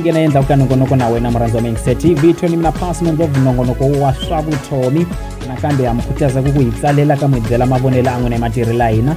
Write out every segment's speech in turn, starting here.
nghena endzhaku ka nongonoko na wena murhandzi wa mengisa tv tony mina pasi nondzo nongonoko wa swa vutomi nakambe ha mi khutaza ku ku hi tsalela ka mi byela mavonelo a n'wina hi matirhela hina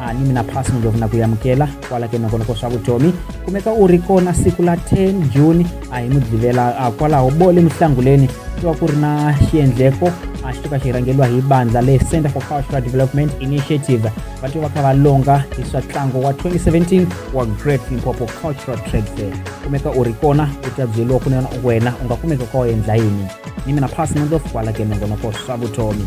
a ni mina phasi ni lovuna ku yamukela kwala ke nokonoko swa vutomi kumeka u ri kona siku la 10 juni a hi mudlivela a kwalaho bo le muhlanguleni ku va ku ri na xiendleko a xi to ka xi rhangeriwa hi bandla le center for cultural development initiative va to va kha va longa hi swa ntlangu wa 2017 wa great limpopo cultural trade fair kumeka u ri kona u ta byeriwa ku nena wena u nga kumeka ka u endla yini ni mina phasi nondof kwala ke nongonoko swa vutomi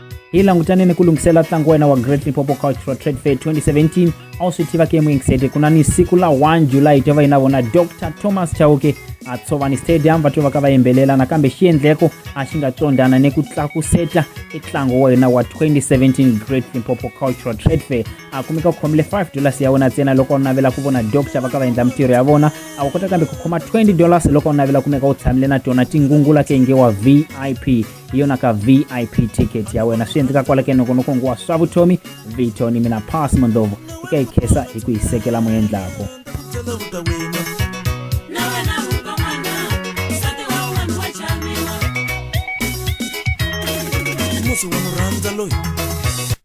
hi langutane ni ku lunghisela ntlangu wena wa great lipopo cultural trade fair 2017 a wu swi tiva ke muingisete ku na ni siku la 1 july to va yi na vona dr thomas chauke a tshovani stadium va to va ka va yimbelela nakambe xiendleko a xi nga tsondana ni ku tlakuseta ntlangu wa yena wa 2017 great limpopo cultural trade fair a kumeka u khomile 5 dollars ya wena ntsena loko u navela ku vona dr va ka va endla mintirho ya vona a wu kota kambe ku khoma 20 dollars loko u navela kumeka u tshamile na tona tingungula ke nge wa vip hi yona ka vip ticket ya wena swi endleka kwala ke nokonokong wa swa vutomi vito ni mina pass mondlovo eka yi khesa hi ku yi sekela moyendlako musi wa murhandza loyi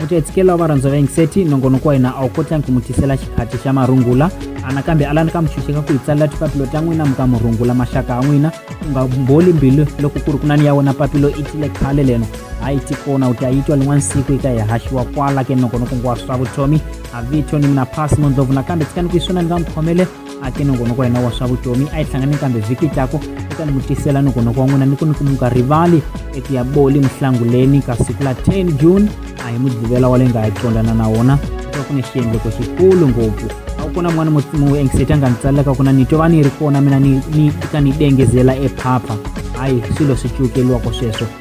mutiyetsikelo wa varhandza va yingiseti nongonoko wa hina a wu kotlangi ku mu tisela xikhati xa marungula anakambe alani ka muchuxeka ku hi tsalela tipapilo ta n'wina muka murungula maxaka a n'wina u nga mboli mbilu loko ku ri ku nani ya wena papilo i tile khale leno hayi tikona u ta yi twa lin'wana siku yi ta hi haxiwa kwala ke nongonoko ngwa swa vutomi a vito ni mina phasi mondlovu nakambe tsikani ku yi swona ni nga mukhomele a ke nongonoko yena wa swa vutomi a yi hlangane kambe vhiki tlaku eka ni mutisela nongonoko wa n'wina ni ku ni ku muka rivali eku ya boli muhlanguleni ka siku la 10 june a hi mudlivela wa le nga hi qondana na wona va ku ni xiendleko xikulu ngopfu a ku kona n'wana muengseti a nga ni tsalelaka ku na ni twa va ni ri kona mina ni ni ka ni dengezela ephapha hayi swilo swi cukeliwako sweswo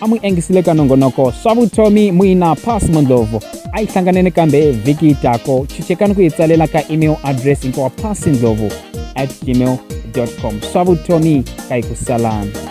a mu engisile ka nongonoko swa vutomi muina pass mondlovu a yi hlanganeni kambe vhiki tako chuchekani ku yi tsalela ka email address hinkwawa pass ndlovu at gmail com swa vutomi ka yi ku salana